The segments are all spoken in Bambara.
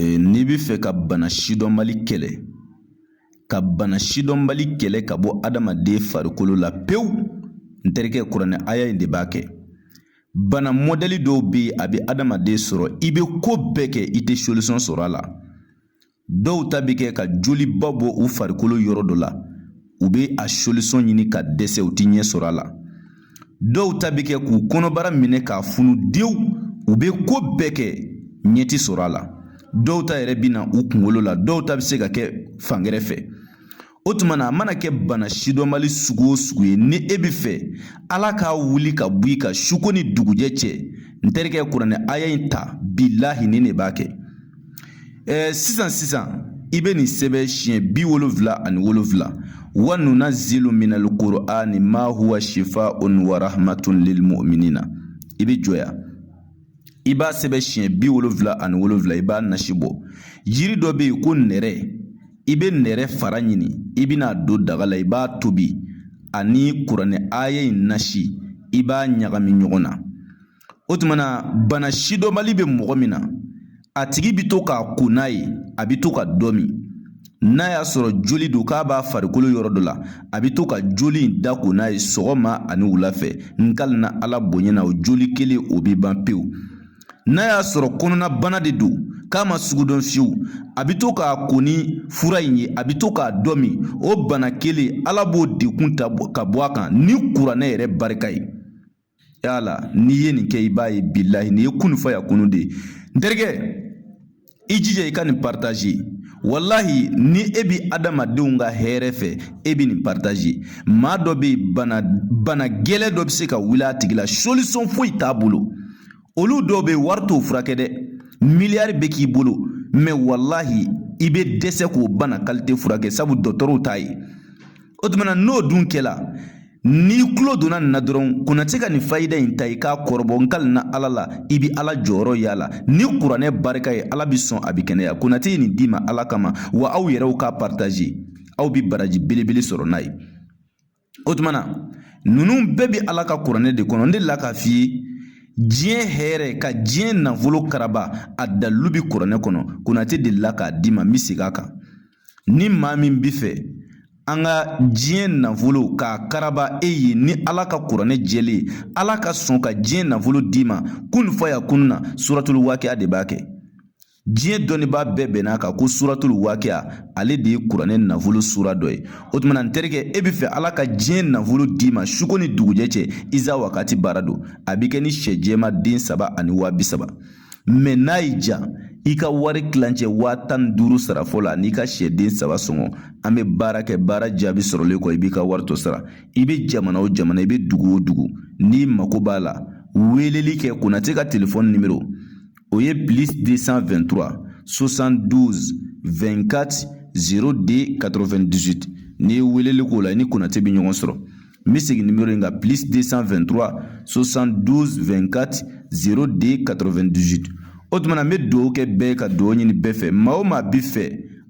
Ee n'i bɛ fɛ ka bana sidɔnbali kɛlɛ ka bana sidɔnbali kɛlɛ ka bɔ adamaden farikolo la pewu n terikɛ kuranɛ aya in de b'a kɛ bana mɔdɛli dɔw bɛ yen a bɛ adamaden sɔrɔ i bɛ ko bɛɛ kɛ i tɛ solisɔn sɔrɔ a la dɔw ta bɛ kɛ ka joliba bɔ u farikolo yɔrɔ dɔ la u bɛ a solisɔn ɲini ka dɛsɛ u tɛ ɲɛ sɔrɔ a la dɔw ta bɛ kɛ k'u kɔnɔbara minɛ k'a funu dewu u bɛ ko bɛɛ kɛ ɲɛ tɛ sɔrɔ a la dɔw ta yɛrɛ bɛ na u kunkolo la dɔw ta bɛ se ka kɛ fangɛrɛ fɛ o tuma na a mana kɛ bana sidɔnbali sugu o sugu ye ni e bɛ fɛ ala k'a wuli ka bɔ i kan suko ni dugujɛ cɛ n terikɛ kuranɛ aya in ta bilahi nin de b'a kɛ sisan sisan i bɛ nin sɛbɛn siɲɛ bi wolonwula ani wolonwula wa nunazzilu minal kurani ma huwa sifaun wa rahmatun lil muminina i bɛ jɔ yan i b'a sɛbɛn siɲɛ bi wolonwula ani wolonwula i b'a nasi bɔ jiri dɔ bɛ yen ko nɛrɛ i bɛ nɛrɛ fara ɲini i bɛn'a don daga la i b'a tobi ani kuranɛ aya in nasi i b'a ɲagami ɲɔgɔn na o tuma na bana sidɔnbali bɛ mɔgɔ min na a tigi bi to k'a ko n'a ye a bɛ to ka dɔ min n'a y'a sɔrɔ joli don k'a b'a farikolo yɔrɔ dɔ la a bɛ to ka joli in da ko n'a ye sɔgɔma ani wula fɛ n kalina ala bonya na o joli kelen o bɛ ban pewu n'a y'a sɔrɔ kɔnɔna bana de don k'a ma sugu dɔn fiyewu a bɛ to k'a ko ni fura in ye a bɛ to k'a dɔ min o bana kelen ala b'o dɛgun ta ka bɔ a kan ni kuranɛ yɛrɛ barika ye yala n'i ye nin kɛ i b'a ye bilahi nin ye kun fayakunu de ye n terikɛ i jija i ka nin paritazi walahi ni e bi adamadenw ka hɛrɛ fɛ e bi nin paritazi maa dɔ bɛ yen bana gɛlɛn dɔ bɛ se ka wuli a tigi la solisɔn foyi t'a bolo olu dɔw bɛ yen wari t'o furakɛ dɛ miliyari bɛ k'i bolo mɛ walahi i bɛ dɛsɛ k'o bana kalite furakɛ sabu dɔgɔtɔrɔw t'a ye o tuma n'o dun kɛla N'i tulo donna nin na dɔrɔn konati ka nin fayida in ta i k'a kɔrɔbɔ n kalina ala la i bi ala jɔyɔrɔ y'a la ni kuranɛ barika ye ala bi sɔn a bi kɛnɛya konati ye nin d'i ma ala kama wa aw yɛrɛw k'a partaze aw bi baraji belebele sɔrɔ n'a ye o tuma na ninnu bɛɛ bi ala ka kuranɛ de kɔnɔ n delila k'a f'i ye diɲɛ hɛrɛ ka diɲɛ nafolo karaba a dalilu bi kuranɛ kɔnɔ konati delila k'a d'i ma n bi segin a kan Ni maa min bɛ fɛ an ka diɲɛ nafolo k'a karaba e ye ni Ala ka kuranɛ jɛlen ye Ala ka sɔn ka diɲɛ nafolo d'i ma kun fayakunu na suratul wakia de b'a kɛ diɲɛ dɔnnibaa bɛɛ bɛnn'a kan ko suratul wakia ale de ye kuranɛ nafolo sura dɔ ye o tuma n terikɛ e bɛ fɛ Ala ka diɲɛ nafolo d'i ma suko ni dugujɛ cɛ isa wakati baara don a bɛ kɛ ni sɛ jɛman den saba ani waa bi saba mɛ n'a y'i ja i ka wari kilancɛ waa tan ni duuru sara fɔlɔ an'i ka sɛden saba sɔngɔ an bɛ baara kɛ baara jaabi sɔrɔlen kɔ i b'i ka wari to sara i bɛ jamana o jamana i bɛ dugu o dugu n'i mako b'a la weeleli kɛ konatɛ ka telefɔni nimero o ye plus 223 72 24 02 98 n'i ye weeleli k'o la i ni konatɛ bɛ ɲɔgɔn sɔrɔ N bɛ segin nimero in kan plus 223 72 24 02 98 o tuma na n bɛ dugawu kɛ bɛɛ ka dugawu ɲini bɛɛ fɛ maa o maa bi fɛ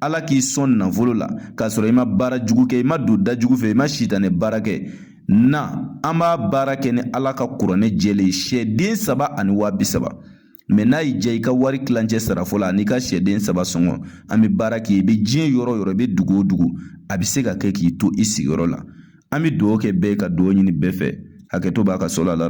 ala k'i sɔn nafolo la k'a sɔrɔ i ma baara jugu kɛ i ma don da jugu fɛ i ma sitanɛ baara kɛ na an b'a baara kɛ ni ala ka kuranɛ jɛlen ye sɛden saba ani waa bi saba mɛ n'a y'i ja i ka wari kilancɛ sara fɔlɔ an'i ka sɛden saba sɔngɔ an bɛ baara kɛ i bɛ diɲɛ yɔrɔ o yɔrɔ i bɛ dugu o dugu a bɛ se ka kɛ k'i to i sigiyɔrɔ la an bɛ dugawu kɛ bɛɛ ka dugawu ɲini bɛɛ fɛ hakɛto b'a ka so la